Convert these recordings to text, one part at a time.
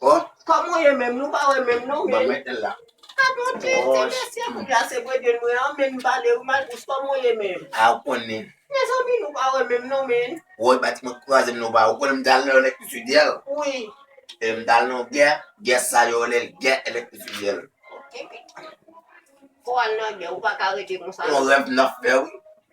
Oh kòman w ye menm nou pa wè menm non men. Ah bon ti ti mesye m la se bredwen mwen an men m pale wi Malbouch kòman w ye menm. Ah ou konnen. Mezanmi nou pa wè menm non men. Woy pati mwen kwaze m nan w pa wè ou konnen m t al nan yon lekti fidèl. Wi. Epi m t al nan yon gè, gè sa yo rele l gè elektrik fidèl. Epi fò w al nan gè ou pa ka rete konsa. Yon rèv m nan fè wi.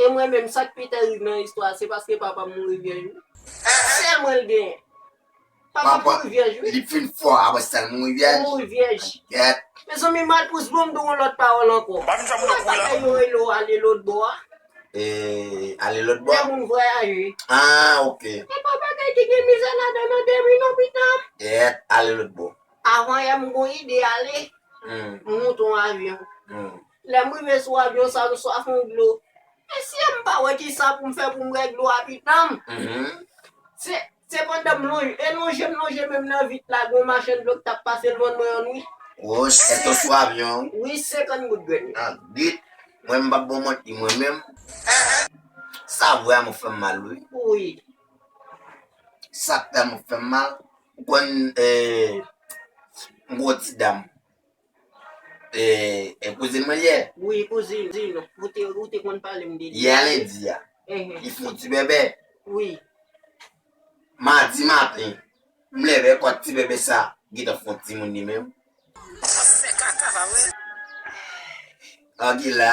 E mwen menm sak pi terib nan istwa se paske papam mouri vyèj wi. Sè mwen l genyen. Papal mouri vyèj wi. Li fin fò apre sèl mouri vyèj. Li mouri vyèj. Gèt. Mezanmi malpous banm di w yon lòt pawòl ankò. Banm janm nan kou la. Kòman bagay yo rele w ale lotbò a? Eeh ale lotbò. Lè moun vwayaje. Ah ok. E pa bagay ki gen mizè ladan nan dèmi non pitanm. Gèt ale lotbò. Avan yè m gon ide ale. M moute yon avyon. Lèm rive sou avyon sa m swaf yon dlo mesye m pa wè kisa poum fè poum bwè dlo a pitanm se pandan m lonje e lonje m lonje menm nan vit la gon machann dlo k tap pase lvann mwen yon wi. Wouch se to sou avyon an. Wi 50 goud grenn yo. Ah git Mwen m pap bon manti mwen menm sa vwa m fèm mal wi. Wi. Sak tanm fèm mal ou konn eh m gon ti dam. E, e kouzin mwen li ye? Wi, kouzin. Ou te, ou te konn pale m de li. Yè lendi a. Enhen. Li fon ti bebe. Wi. Madi maten, m leve kot ti bebe sa gentan fon timoun li menm. Ou ap fè kaka pa wè? An gila.